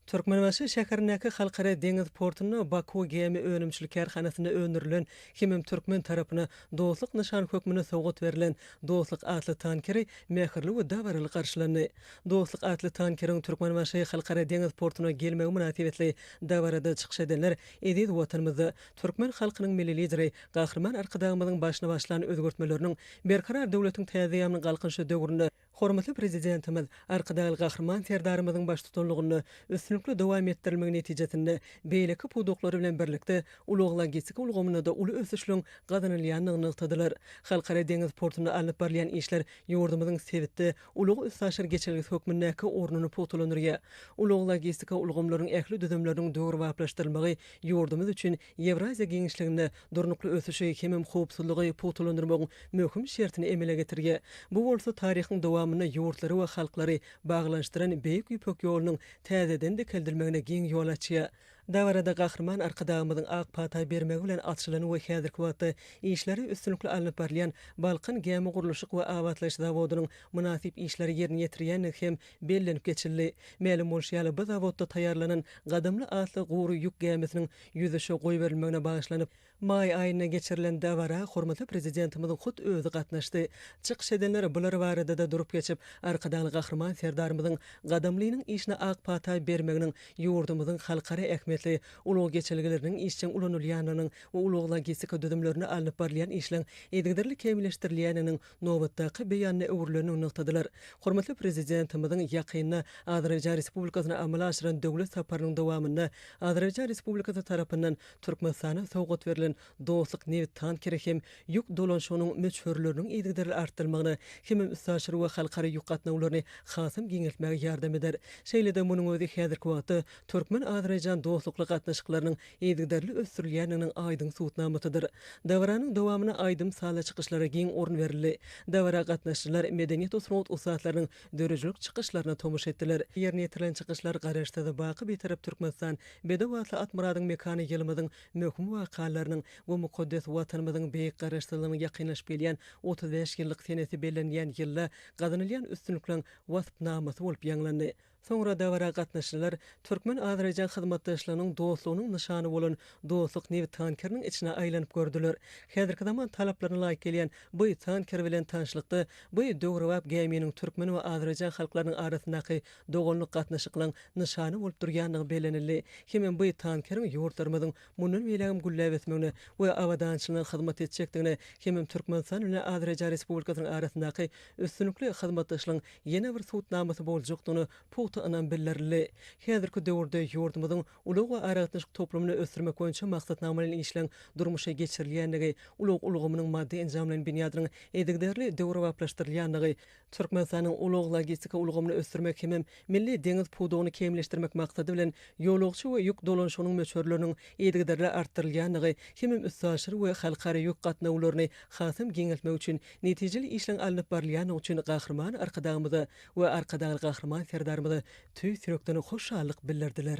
Türkmenbaşy şäherindäki Halkara deňiz portunda Baku gämi önümçilik kärhanasynda öndürilen hemem türkmen tarapyna Dostluk nyşany hökmünde sowgat berlen Dostluk atly tankeri mähirli we dabaraly garşylandy. Dostluk atly tankeriň Türkmenbaşy Halkara deňiz portuna gelmegi mynasybetli dabarada çykyş edenler eziz Watanymyzda Türkmen halkynyň Milli Lideri Gahryman Arkadagymyzyň başyny başlan özgertmeleriniň, Berkarar döwletiň täze ýaňynyň galkynyşy döwründe hormatly Prezidentimiz Arkadagly Gahryman Serdarymyzyň baştutanlygynda üstünlikli dowam etdirilmegi netijesinde beýleki pudaklary bilen birlikde ulag-logistika ulgamynda-da uly ösüşleriň gazanylýandygyny nygtadylar. Halkara deňiz portunda alnyp barylýan işler ýurdumyzyň sebitde ulag-üstaşyr geçelgesi hökmündäki ornuny pugtalandyrýar. Ulag-logistika ulgamlarynyň ähli düzümleriniň döwrebaplaşdyrylmagy ýurdumyz üçin Ýewraziýa giňişliginde durnukly ösüşi hemem howpsuzlygy pugtalandyrmagyň möhüm şertini emele getirýär. Bu bolsa taryhyň dowamynda ýurtlary we halklary baglanyşdyran Beýik Ýüpek ýolunyň täzeden dikeldilmegine giň ýol açýar. Dabarada Gahryman Arkadagymyzyň ak pata bermegi bilen açylan we häzirki wagtda işleri üstünlikli alnyp barylýan Balkan gämigurluşyk we abatlaýyş zawodynyň mynasyp işleri ýerine ýetirýändigi hem Bellenip geçildi. Mälim bolşy ýaly, bu zawodda taýýarlanan Gadamly atly gury ýük gämisiniň ýüzüşe goýberilmegine bagyşlanyp, maý aýynda geçirilen dabara hormatly Prezidentimiziň hut özi gatnaşdy. Çykyş edenler bular barada-da durup geçip, Arkadagly Gahryman Serdarymyzyň Gadamlynyň işine ak pata bermeginiň ýurdumyzyň halkara ähmiýetli ulag geçelgeleriniň işjeň ulanylýandygynyň we ulag-logistika düzümlerinde alnyp barylýan işleň yzygiderli kämilleşdirilýändiginiň nobatdaky beýanyna öwrülendigini nygtadylar. Hormatly Prezidentimiziň ýakynda Azerbaýjan Respublikasyna amala aşyran döwlet saparynyň dowamynda Azerbaýjan Respublikasy tarapyndan Türkmenistana sowgat berlen Dostluk nebit tankeri hem ýük dolanyşygynyň möçberleriniň yzygiderli artdyrylmagyna hemem üstaşyr we halkara ýük gatnawlaryny hasam giňeltmäge ýardam eder. Şeýle-de munuň özi häzirki wagtda türkmen-azerbaýjan dostlukly gatnaşyklarynyň yzygiderli ösdürilýändiginiň aýdyň subutnamasydyr. Dabaranyň dowamyna aýdym-sazly çykyşlara giň orun berildi. Dabara gatnaşyjylar medeniýet-sungat ussatlarynyň döredijilik çykyşlaryna tomaşa etdiler. Ýerine ýetirilen çykyşlar Garaşsyz, baky Bitarap Türkmenistan, Bedew atly Atmyradyň mekany ýylymyzyň möhüm wakalarynyň we mukaddes Watanymyzyň beýik Garaşsyzlygynyň ýakynlaşyp gelýän otuz bäş ýyllyk senesi bellenilýän ýylda gazanylýan üstünlikleriň waspnamasy bolup ýaňlandy. Soňra dabara gatnaşyjylar türkmen-azerbaýjan hyzmatdaşlygynyň dostlugynyň nyşany bolan Dostluk nebit tankeriniň içine aýlanyp gördüler. Häzirki zaman talaplaryna laýyk gelýän bu tanker bilen tanyşlykda bu döwrebap gäminiň türkmen we azerbaýjan halklarynyň arasyndaky doganlyk gatnaşyklaň nyşany bolup durýandygy bellenildi hemem bu tankeriň ýurtlarymyzyň mundan beýlägem gülläp ösmegine we abadançylygyna hyzmat etjekdigine hemem Türkmenistan bilen Azerbaýjan Respublikasynyň arasyndaky üstünlikli hyzmatdaşlygyň ýene bir subutnamasy boljakdygyna pugta ynam bildirildi. Häzirki döwürde ýurdumyzyň ulag we aragatnaşyk toplumyny ösdürmek boýunça maksatnamalaýyn işleň durmuşa geçirilýändigi, ulag ulgamynyň maddy-enjamlaýyn binýadynyň yzygiderli döwrebaplaşdyrylýandygy, Türkmenistanyň ulag-logistika ulgamyny ösdürmek hemem milli deňiz pudagyny kämilleşdirmek maksady bilen ýolagçy we ýük dolanşygynyň möçberleriniň yzygiderli artdyrylýandygy hemem üstaşyr we halkara ýük gatnawlaryny hasam giňeltmek üçin netijeli işleň alnyp barylýandygy üçin Gahryman Arkadagymyza we Arkadagly Gahryman Serdarymyza tüýs ýürekden hoşallyk bildirdiler.